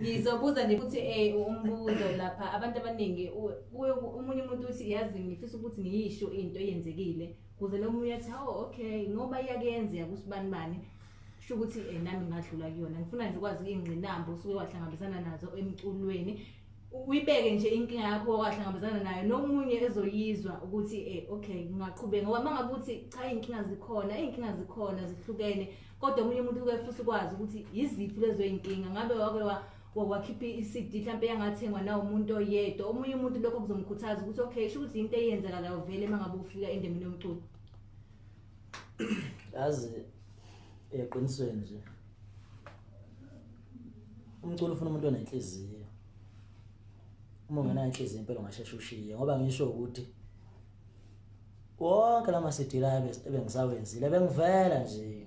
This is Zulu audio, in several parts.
ngizobuza nje futhi eh umbuzo lapha abantu abaningi kuye umunye umuntu uthi yazi ngifisa ukuthi ngiyisho into eyenzekile kuze nomunye athi oh okay ngoba iyakuyenzeka kusibani bani kusho ukuthi eh nami ngadlula kuyona ngifuna nje ukwazi ingqinamba usuke wahlangabezana nazo emculweni uyibeke nje inkinga yakho wahlangabezana nayo nomunye ezoyizwa ukuthi eh okay ngingaqhubeka ngoba mangabe uthi cha inkinga zikhona inkinga zikhona zihlukene kodwa omunye umuntu uke futhi ukwazi ukuthi yiziphi lezo iy'nkinga ngabe wake wakhipha i-cd mhlawumpe yangathengwa na umuntu oyedwa omunye umuntu lokho kuzomkhuthaza ukuthi okay sho ukuthi yinto eyenzakalayo vele uma ngabe ufika endemini yomculo yazi eqinisweni nje umculo ufuna umuntu onenhliziyo uma ungenayo inhliziyo impela ungasheshe ushiye ngoba ngisho ukuthi wonke lama CD la ebengisawenzile bengivela nje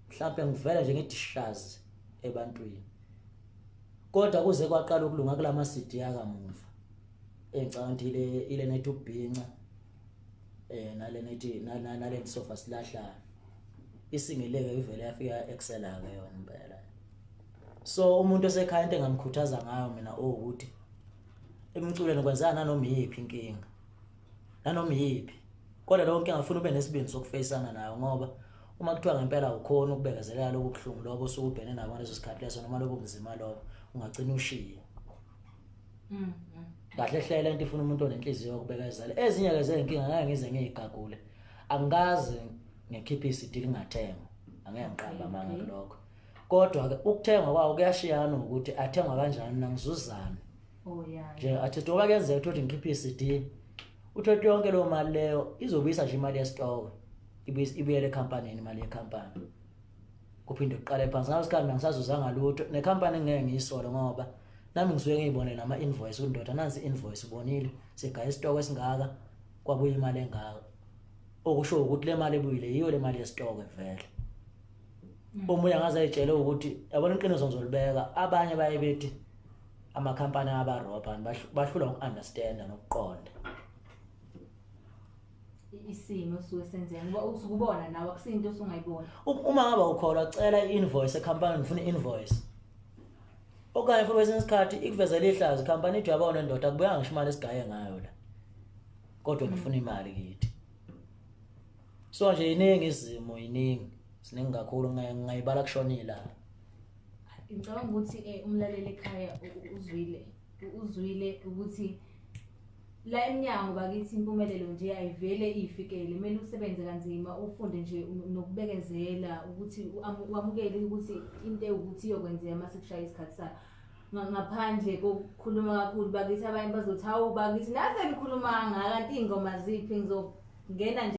mhlawumbe ngivela nje ngidishazi ebantwini kodwa kuze kwaqala ukulunga kulama CD akamuva engicabanga ukuthi ile ile nethi ubhinca eh nale nethi nale ngisofa silahlana isingeleke ivele yafika excela ke yona impela so umuntu osekhaya into engamkhuthaza ngayo mina ukuthi emculweni kwenzeka nanoma iyiphi inkinga nanoma iyiphi kodwa leyo nkinga ngifuna ube nesibindi sokufeyisana nayo ngoba uma kuthiwa ngempela awukhoni ukubekezelela lobu buhlungu lobo osuke ubhene nabo ngaleso sikhathi leso noma lobo buzima lobo ungagcina ushiye mm, mm. kahle hlela into ifuna umuntu onenhliziyo yokubekezela ezinye ke zezinkinga ngeke ngize ngiyigagule angikaze ngikhiphe isidili ngathengwa angeke ngiqamba amanga kulokho kodwa-ke ukuthengwa kwawo kuyashiyana ukuthi athengwa kanjani nangizuzane oh, nje athi doba kuyenzeka ukuthi ngikhiphe i-cd uthothi yonke leyo mali leyo izobuyisa nje imali yesitoke ibuyele ekhampanini imali yekhampani kuphinde kuqale phansi ngaso sikhathi nangisazuzanga lutho nekhampani ngeke ngiyisole ngoba nami ngisuke ngiyibonele ama-invoice ukuthi ndoda nansi i-invoice ubonile sigaya isitoko esingaka kwabuya imali engaka okusho ukuthi le mali ebuyile yiyo le mali yesitoko vele omunye angaze ayitshele ukuthi yabona iqiniso ngizolibeka abanye baye bethi amakhampani abarobha bahlula uku-understanda nokuqonda isimo suke senzeka ngoba usukubona nawe akusinto osungayibona uma ngaba ukholwa cela i-invoice ekhampani ngifuna i-invoice okanye futhi kwesinye isikhathi ikuvezela ihlazo ikhampani ithi uyabona ndoda kubuyanga ngisho imali esigaye ngayo la kodwa ngifuna imali kithi so nje iningi izimo iningi siningi kakhulu ngayibala kushonile la ngicabanga ukuthi um umlaleli ekhaya uzwile uzwile ukuthi la emnyango bakithi impumelelo nje ayivele iyifikele kumele usebenze kanzima ufunde nje nokubekezela ukuthi wamukele ukuthi into ewukuthi iyokwenzeka uma sekushaya isikhathi sayo ngaphandle kokukhuluma kakhulu bakithi abanye bazothi hawu bakithi naze nikhuluma kangaka kanti iy'ngoma ziphi ngizongena nje